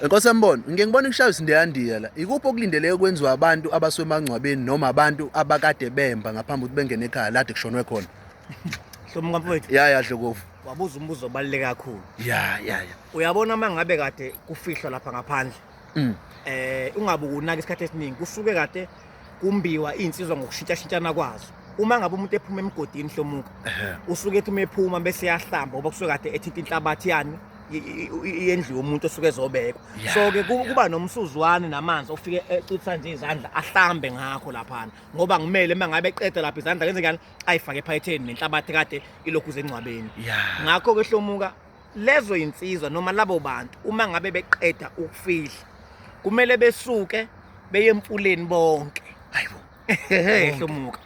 Enkosi yambona, ngike ngibone kushaywa isindiyandiya la. Ikuphi okulindeleke kwenziwa abantu abaswemangcwabeni noma abantu abakade bemba ngaphambi ukuthi bengene ekhaya lade kushonwe khona? Hlomo kamfowethu. Ya ya Dlokovu. Wabuza umbuzo obaluleke kakhulu. Ya ya ya. Uyabona mangabe kade kufihlwa lapha ngaphandle. Mm. Eh ungabe unaka isikhathi esiningi kusuke kade kumbiwa iy'nsizwa ngokushintshashintshana kwazo uma ngabe umuntu ephuma emgodini hlomuka usuke ethi uma ephuma bese yahlamba ngoba kusuke kade ethinta inhlabathi yani yendlu yomuntu osuke ezobekwa so ke kuba nomsuzwane namanzi ofike ecutha nje izandla ahlambe ngakho laphana ngoba ngimele uma ngabe eqeda lapha izandla kenzekani ayifake ephayetheni nenhlabathi kade ilokhu zengcwabeni ngakho ke hlomuka lezo insizwa noma labo bantu uma ngabe beqeda ukufihla kumele besuke beye emfuleni bonke hayibo ehlomuka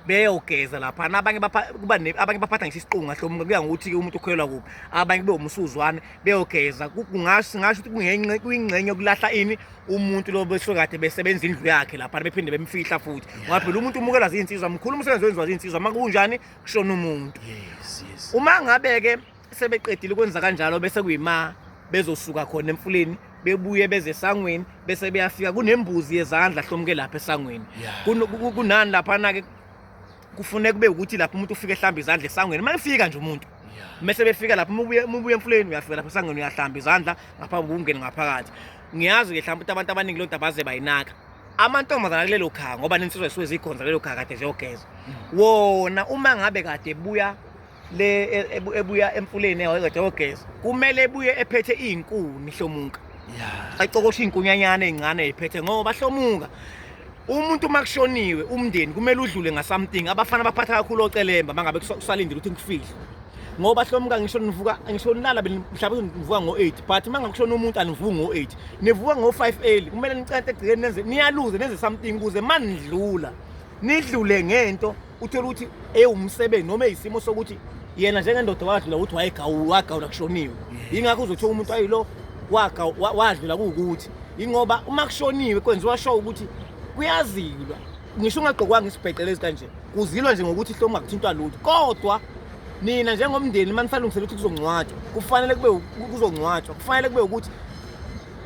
beyogeza lapha abanye kuba abanye baphatha ngisho isiqunga hlomuka kuya ngokuthi umuntu ukholelwa kuphi abanye kube umusuzwane beyogeza kungasho singasho ukuthi kungenxe kuyingxenye yokulahla ini umuntu lo besokade besebenza indlu yakhe lapha bephinde bemfihla futhi ngoba phela umuntu umukelwa zinsizwa mkhulu umsebenzi wenziwa zinsizwa makunjani kushona umuntu yes yes uma ngabe ke sebeqedile ukwenza kanjalo bese kuyima bezosuka khona emfuleni bebuye beze esangweni bese beyafika kunembuzi yezandla hlomuke lapha esangweni kunani laphana-ke kufuneka kube ukuthi lapho umuntu ufike ehlamba izandla esangweni uma efika nje umuntu mese befika lapho mubuye emfuleni uyafika lapho esangweni uyahlamba izandla ngaphambi kokungena ngaphakathi ngiyazi-ke mhlawumbe ukuthi abantu abaningi lo nto abaze bayinaka amantombazana kulelo khaya ngoba nensizwa zisuke zikhonza kulelo khaya kade ziyogeza mm. wona uma ngabe kade buya le e- ebu- ebuya emfuleni ewayezothi ogeza kumele ebuye ephethe iy'nkuni hlomuka ya acokoshe iy'nkunyanyana ey'ncane ey'phethe ngoba hlomuka umuntu uma kushoniwe umndeni kumele udlule ngasamting abafana baphatha kakhulu ocelemba mangabe kusa- kusalindile ukuthi ngifihle ngoba hlomuka ngisho nivuka ngisho nilala mhlawumbe nivuka ngo-eight but uma ngakushona umuntu anivuki ngo-eight nivuka ngo-five early kumele nicente egcikeni nenze niyaluze nenze something ukuze uma nidlula nidlule ngento uthole ukuthi ewumsebenzi noma eyisimo sokuthi yena njengendoda wadlula ukuthi wayegawagawula kushoniwe yingakho uzothola umuntu ayilo wadlula kuwukuthi yingoba uma kushoniwe kwenziwa sho ukuthi kuyazilwa ngisho ungagqokwanga isibhexele kanje kuzilwa nje ngokuthi hlomo ungakuthintwa lutho kodwa nina njengomndeni uma nisalungisela ukuthi kuzongcwatshwa kufanele kube kuzongcwatshwa kufanele kube ukuthi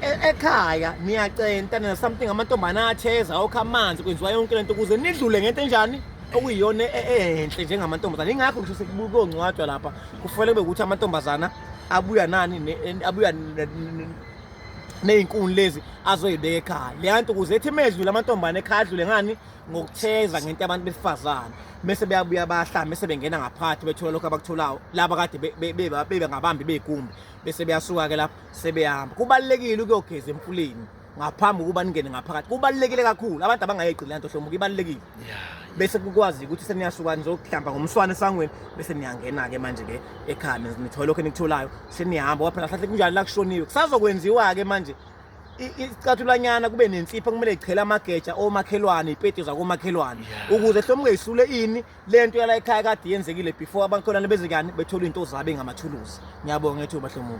E- ekhaya niyacenta nina something amantombana atheza okha amanzi kwenziwa yonke lento ukuze nidlule ngento enjani okuyiyona e- e- enhle njengamantombazana ingakho ngisho sekubukongcwatshwa lapha kufanele kube ukuthi amantombazana abuya nani ne- en- abuya n- n- ney'nkuni lezi azoyibeka ekhaya leya nto ukuze ethi medlule amantombana ekhaya adlule ngani ngokutheza ngento yabantu besifazane mese beyabuya bahlala mese bengena ngaphathi bethola lokho abakutholayo laba kade be- be- be- bebangabambi bey'kumbi bese beyasuka-ke lapho sebeyahamba kubalulekile ukuyogeza emfuleni ngaphambi kokuba ningene ngaphakathi kubalulekile kakhulu abantu abangayegqili lanto hlomuka ibalulekile bese kukwazi ukuthi seniyasuka nizokuhlamba ngomswane esangweni bese niyangena-ke manje-ke ekhaya nithola lokho enikutholayo seniyahamba kwaphela hlahle kunjalo la kushoniwe kusazokwenziwa-ke manje icathulanyana kube nensipho kumele ichele amageja omakhelwane ipeti zakomakhelwane ukuze hlomuke isule ini le nto yala ekhaya kade yenzekile before abakhonana bezekani bethola into zabo engamathuluzi ngiyabonga ngethuba hlomuka